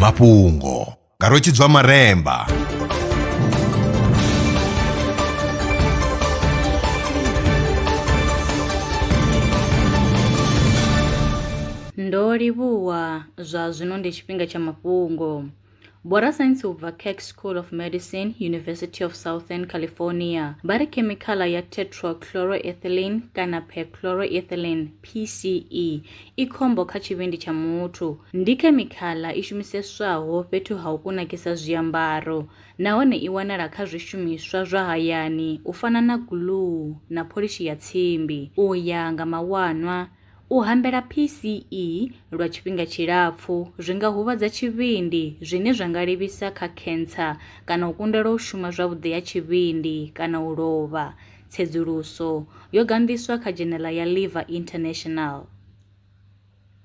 mafhungo nga rwetshidzwa maremba ndo livhuwa zwa zwino ndi tshifhinga tsha mafhungo Vho rasaintsi u bva Keck School of Medicine, University of Southern California, vha ri khemikhala ya tetrachloroethylene kana perchloroethylene, PCE, i khombo kha tshivhindi tsha muthu. Ndi khemikhala i shumiseswaho fhethu ha u kunakisa zwiambaro nahone i wanala kha zwishumiswa zwa hayani u fana na guluu na pholishi ya tsimbi, u ya nga mawanwa. U hambela PCE lwa tshifhinga tshilapfu zwi nga huvhadza tshivhindi, zwine zwa nga livhisa kha khentsa kana u kundelwa u shuma zwavhuḓi ha tshivhindi kana u lovha. Tsedzuluso yo ganḓiswa kha dzhenela ya Liver International.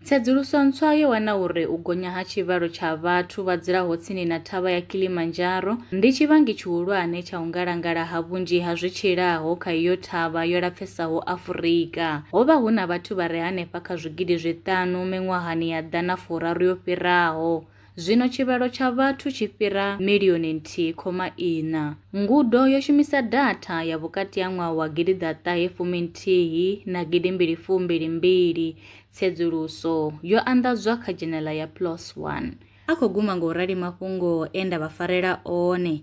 Tsedzuluso ntswa yo wana uri u gonya ha tshivhalo tsha vhathu vha dzulaho tsini na Thavha ya Kilimanjaro ndi tshivhangi tshihulwane tsha u ngalangala ha vhunzhi ha zwi tshilaho kha iyo thavha yo lapfesaho. Sahu Afurika. Ho vha hu na vhathu vha re henefha kha zwigidi zwiṱanu miṅwahani ya ḓana furaru yo fhiraho. Zwino tshivhalo tsha vhathu tshi fhira milioni nthihi khoma iṋa. Ngudo yo shumisa datha ya vhukati ha ṅwaha wa gidi ḓa ṱahe fumi nthihi na gidi mbili fu mbili mbili. Tsedzuluso yo anḓadzwa kha dzhenela ya PLOS One. A khou guma nga u rali mafhungo e nda vha farela one.